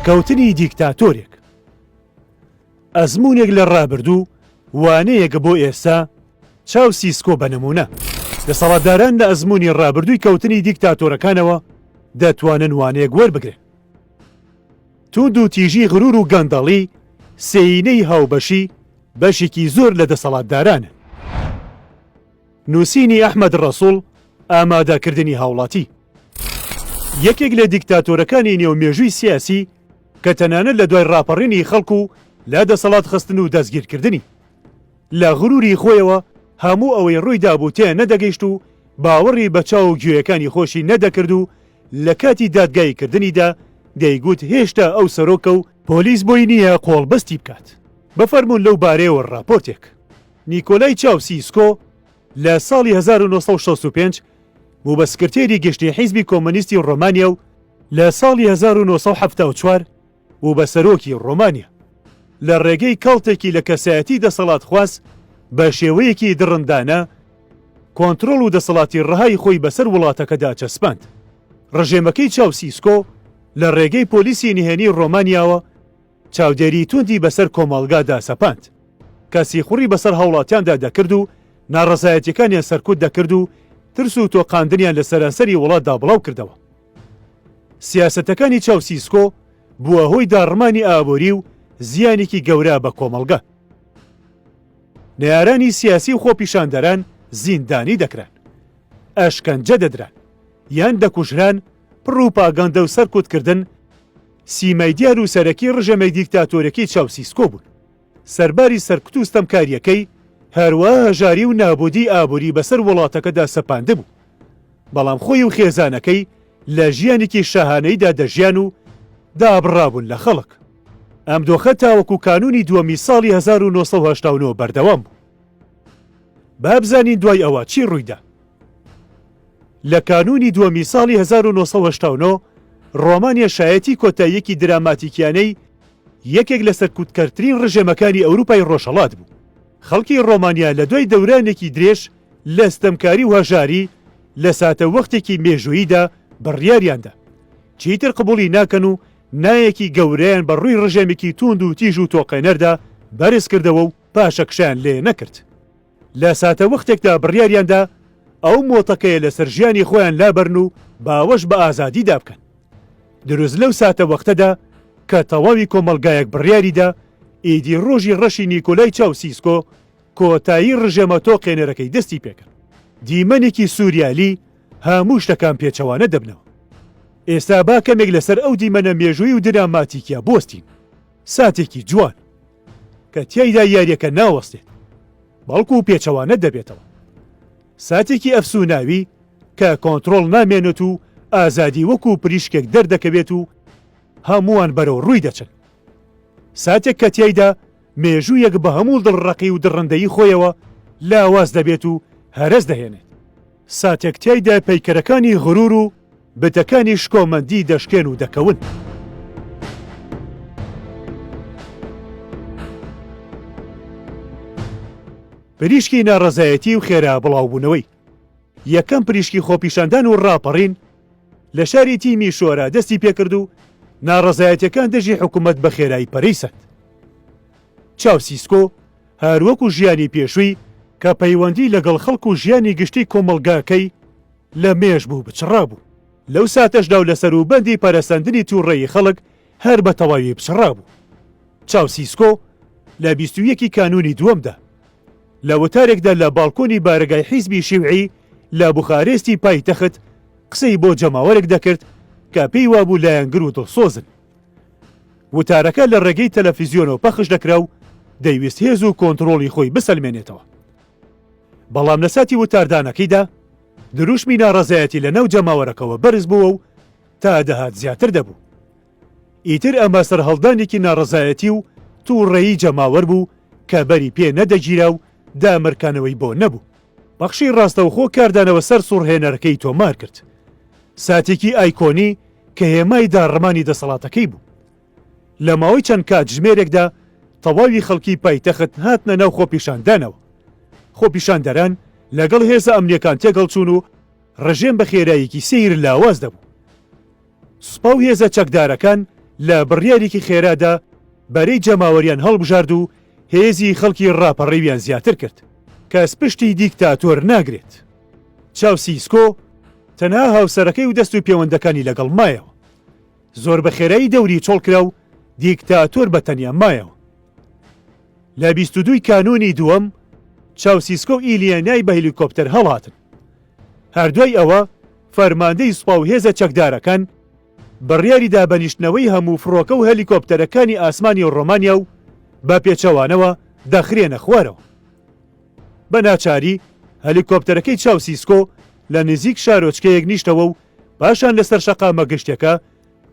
کەوتنی دیکتاتۆرێک ئەزمونێک لە ڕابردوو وانەیەکە بۆ ئێستا چاو سیسکۆ بە نمونە دەسەڵاتداران لە ئەزمونی ڕابردووی کەوتنی دیکتاتۆرەکانەوە دەتوانن وانەیەک وەربگرن توند و تیژی غرور و گەندەڵی سێینەی هاوبەشی بەشێکی زۆر لە دەسەڵاتدارانە نووسینی ئەحمەد ڕەسوڵ، ئامادەکردنی هاوڵاتی. یەکێک لە دیکتاتۆرەکانی نێو مێژووی سیاسی کە تەنانەت لە دوای ڕاپەڕینی خەڵک و لە دەسەڵات خستن و دەستگیرکردنی. لە غروری خۆیەوە هەموو ئەوەی ڕووی دابوو تێ نەدەگەیشت و باوەڕی بە چاو و گوێیەکانی خۆشی نەدەکرد و لە کاتی دادگایی کردنیدا دەیگوت هێشتا ئەو سەرۆکە و پۆلیس بۆی نییە قۆڵبەستی بکات. بفەرموون لەو بارەیەوە ڕاپۆرتێک. نیکۆلای چاوسیسکۆ لە ساڵی هەزار و نۆ سەد و شەست و پێنج بوو بە سکرتێری گشتیی حیزبی کۆمۆنیستی ڕۆمانیا و لە ساڵی هەزار و نۆ سەد و حەفتا و چوار بوو بە سەرۆکی ڕۆمانیا. لە ڕێگەی کەڵتێکی لە کەسایەتی دەسەڵاتخواز بە شێوەیەکی دڕندانە کۆنترۆڵ و دەسەڵاتی ڕەهای خۆی بەسەر وڵاتەکەدا چەسپاند. ڕژێمەکەی چاوسیسکۆ لە ڕێگەی پۆلیسی نهێنیی ڕۆمانیاوە، چاودێری توندی بەسەر کۆمەڵگادا سەپاند، کە سیخوڕی بەسەر هاوڵاتیاندا دەکرد و ناڕەزایەتیەکانیان سەرکوت دەکرد و ترس و تۆقاندنیان لە سەرانسەری وڵاتدا بڵاوکردەوە. سیاسەتەکانی چاوسیسکۆ بووە هۆی داڕمانی ئابووری و زیانێکی گەورە بە کۆمەڵگا. نەیارانی سیاسی و خۆپیشاندەران زیندانی دەکران، ئەشکەنجە دەدران، یان دەکوژران، پڕوپاگەندە و سەرکوتکردن، سیمای دیار و سەرەکی ڕژێمەی دیکتاتۆرەکی چاوسیسکۆ بوون. سەرباری سەرکوت و ستەمکارییەکەی، هەروا هەژاری و نابودیی ئابووری بەسەر وڵاتەکەدا سەپاندبوو. بەڵام خۆی و خێزانەکەی لە ژیانێکی شاهانەیدا دەژیان و دابڕابوون لە خەڵک. ئەم دۆخە تاوەکو کانوونی دووەمی ساڵی هەزار و نۆ سەد و هەشتا و نۆ بەردەوام بوو. با بزانین دوای ئەوە چی ڕوویدا. لە کانوونی دووەمی ساڵی هەزار و نۆ سەد و هەشتا و نۆ ڕۆمانیا شایەتی کۆتاییەکی دراماتیکیانەی یەکێک لە سەرکوتکەرترین ڕژێمەکانی ئەوروپای ڕۆژهەڵات بوو. خەڵکی ڕۆمانیا لە دوای دەورانێکی درێژ لە ستەمکاری و هەژاری، لە ساتەوەختێکی مێژووییدا بڕیاریان دا چیتر قبوڵی ناکەن و نایەکی گەورەیان بە ڕووی ڕژێمێکی تووند و تیژ و تۆقێنەردا بەرز کردەوە و پاشەکشەیان لێ نەکرد. لە ساتەوەختێکدا بڕیاریاندا ئەو مۆتەکەیە لەسەر ژیانی خۆیان لابەرن و باوەش بە ئازادیدا بکەن. دروست لەو ساتەوەختەدا کە تەواوی کۆمەڵگایەک بڕیاریدا ئیدی ڕۆژی ڕەشی نیکۆلای چاوسیسکۆ کۆتایی ڕژێمە تۆقێنەرەکەی دەستی پێکرد. دیمەنێکی سوریالی هەموو شتەکان پێچەوانە دەبنەوە. ئێستا با کەمێک لەسەر ئەو دیمەنە مێژووی و دراماتیکیە بوەستین. ساتێکی جوان. کە تیایدا یاریەکە ناوەستێت بەڵکو پێچەوانە دەبێتەوە ساتێکی ئەفسوناوی کە کۆنترۆڵ نامێنێت و ئازادی وەکو پریشکێک دەردەکەوێت و هەمووان بەرەو ڕووی دەچن ساتێک کە تیایدا مێژوویەک بە هەموو دڵڕەقی و دڕندەی خۆیەوە لاواز دەبێت و هەرەس دەهێنێت ساتێک تیایدا پەیکەرەکانی غرور و بتەکانی شکۆمەندی دەشکێن و دەکەون. پریشکی ناڕەزایەتی و خێرا بڵاوبوونەوەی یەکەم پریشکی خۆپیشاندان و ڕاپەڕین لە شاری تیمی شۆرا دەستی پێکرد و ناڕەزایەتیەکان دژی حکومەت بە خێرایی پەرەی سەند. چاوسیسکۆ هەروەکو ژیانی پێشووی کە پەیوەندی لەگەڵ خەڵک و ژیانی گشتی کۆمەڵگاکەی لە مێژ بوو بچڕابوو. لەو ساتەشدا و لە سەروبەندی پەرەسەندنی تووڕەیی خەڵک هەر بە تەواوی بچڕابوو. چاوسیسکۆ لە بیست و یەکی کانوونی دووەمدا، لە وتارێکدا لە باڵکۆنی بارەگای حیزبی شیوعی لە بوخارێستی پایتەخت قسەی بۆ جەماوەرێک دەکرد کە پێی وابوو لایەنگر و دڵسۆزن. وتارەکە لە ڕێگەی تەلەفیزیۆنەوە پەخش دەکرا و دەیویست هێز و کۆنتڕۆڵی خۆی بسەلمێنێتەوە. بەڵام لەساتی وتاردانەکەیدا دروشمی ناڕەزایەتی لەناو جەماوەرەکەوە بەرز بووە و تا دەهات زیاتر دەبوو. ئیتر ئەمە سەرهەڵدانێکی ناڕەزایەتی و تووڕەیی جەماوەر بوو کە بەری پێ نەدەگیرا و دامرکانەوەی بۆ نەبوو. پەخشی ڕاستەوخۆ کاردانەوە سەر سوڕهێنەرەکەی تۆمار کرد. ساتێکی ئایکۆنی کە هێمای داڕمانی دەسەڵاتەکەی بوو. لە ماوەی چەند کاتژمێرێکدا تەواوی خەڵکی پایتەخت هاتنە ناو خۆپیشاندانەوە، خۆپیشاندەران لەگەڵ هێزە ئەمنییەکان تێکهەڵچوون و ڕژێم بە خێراییکی سەیر لاواز دەبوو. سوپا و هێزە چەکدارەکان لە بڕیاریکی خێرادا بەرەی جەماوەریان هەڵبژارد و هێزی خەڵکی ڕاپەڕیویان زیاتر کرد. کەس پشتی دیکتاتۆر ناگرێت. چاوسیسکۆ تەنها هاوسەرەکەی و دەست و پێوەندەکانی لەگەڵ مایەوە. زۆر بە خێرایی دەوری چۆڵ کرا و دیکتاتۆر بە تەنیا مایەوە. لە بیست و دوو ی کانوونی دووەم، چاوسیسکۆ و ئیلیێنای بە هەلیکۆپتەر هەڵاتن. هەر دوای ئەوە، فەرماندەی سوپا و هێزە چەکدارەکان بڕیاری دا بە نیشتنەوەی هەموو فڕۆکە و هەلیکۆپتەرەکانی ئاسمانی ڕۆمانیا و بە پێچەوانەوە دەخرێنە خوارەوە. بە ناچاری هەلیکۆپتەرەکەی چاوسیسکۆ لە نزیک شارۆچکەیەک نیشتەوە و پاشان لەسەر شەقامە گشتەکە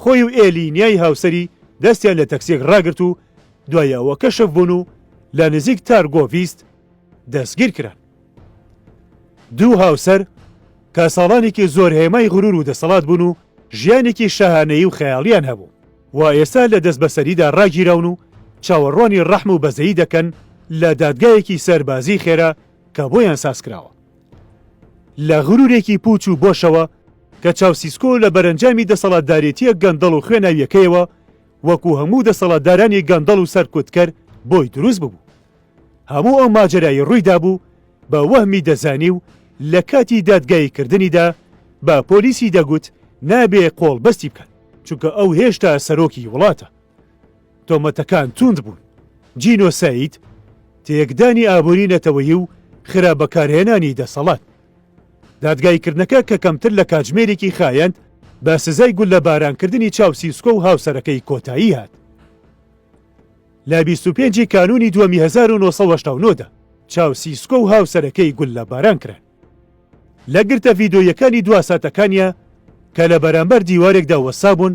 خۆی و ئێلی نیای هاوسەری دەستیان لە تەکسیەک ڕاگرت و دوای ئەوە کەشف بوون و لە نزیک تارگۆڤیست دەستگیر کران. دوو هاوسەر کە ساڵانێکی زۆر هێمای غرور و دەسەڵات بوون و ژیانێکی شاهانەیی و خەیاڵیان هەبوو، وا ئێستا لە دەستبەسەریدا ڕاگیراون و چاوەڕوانی ڕەحم و بەزەیی دەکەن لە دادگایەکی سەربازیی خێرا کە بۆیان سازکراوە. لە غرورێکی پوچ و بۆشەوە کە چاوسیسکۆ لە بەرەنجامی دەسەڵاتدارێتییە گەندەڵ و خوێناوییەکەیەوە وەکو هەموو دەسەڵاتدارانی گەندەڵ و سەرکوتکەر بۆی دروست ببوو. هەموو ئەو ماجەرایەی ڕوویدابوو بە وەهمی دەزانی و لە کاتی دادگاییکردنیدا بە پۆلیسی دەگوت نابێ قۆڵبەستی بکەن چونکە ئەو هێشتا سەرۆکی وڵاتە. تۆمەتەکان توند بوون، جینۆساید، تێکدانی ئابووری نەتەوەیی و خراپ بەکارهێنانی دەسەڵات. دادگاییکردنەکە کە کەمتر لە کاتژمێرێکی خایاند بە سزای گوللەبارانکردنی چاوسیسکۆ و هاوسەرەکەی کۆتایی هات. لە بیست و پێنج ی کانوونی دووەمی هەزار و نۆ سەد و هەشتا و نۆ دا چاوسیسکۆ و هاوسەرەکەی گوللەباران کران. لە گرتە ڤیدۆییەکانی دوا ساتەکانیا کە لە بەرامبەر دیوارێکدا وەستابوون،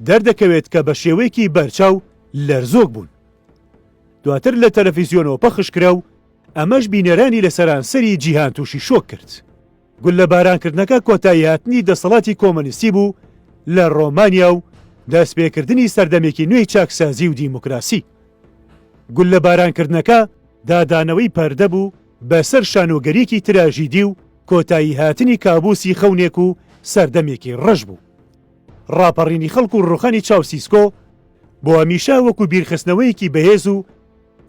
دەردەکەوێت کە بە شێوەیەکی بەرچاو لەرزۆک بوون. دواتر لە تەلەفیزیۆنەوە پەخشکرا و ئەمەش بینەرانی لە سەرانسەری جیهان تووشی شۆک کرد. گوللەبارانکردنەکە کۆتاییهاتنی دەسەڵاتی کۆمۆنیستی بوو لە ڕۆمانیا و دەستپێکردنی سەردەمێکی نوێی چاکسازی و دیموکراسی. گوللەبارانکردنەکە دادانەوەی پەردە بوو، بە سەر شانۆگەریی تراژیدی و کۆتایی هاتنی کابووسی خەونێک و سەردەمێکی ڕەش بوو. ڕاپەڕینی خەڵک و ڕووخانی چاوسیسکۆ بۆ هەمیشە وەکوو بیرخستنەوەیەکی بەهێز و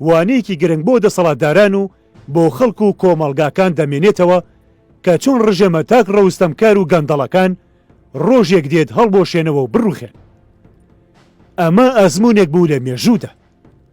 وانەیەکی گرنگ بۆ دەسەڵاتداران و بۆ خەڵک و کۆمەڵگاکان دەمێنێتەوە کە چۆن ڕژێمە تاک ڕەوستەمکار و گەندەڵەکان ڕۆژێک دێت هەڵبۆشێنەوە و بڕووخێن. ئەمە ئەزموونێک بوو لە مێژوودا.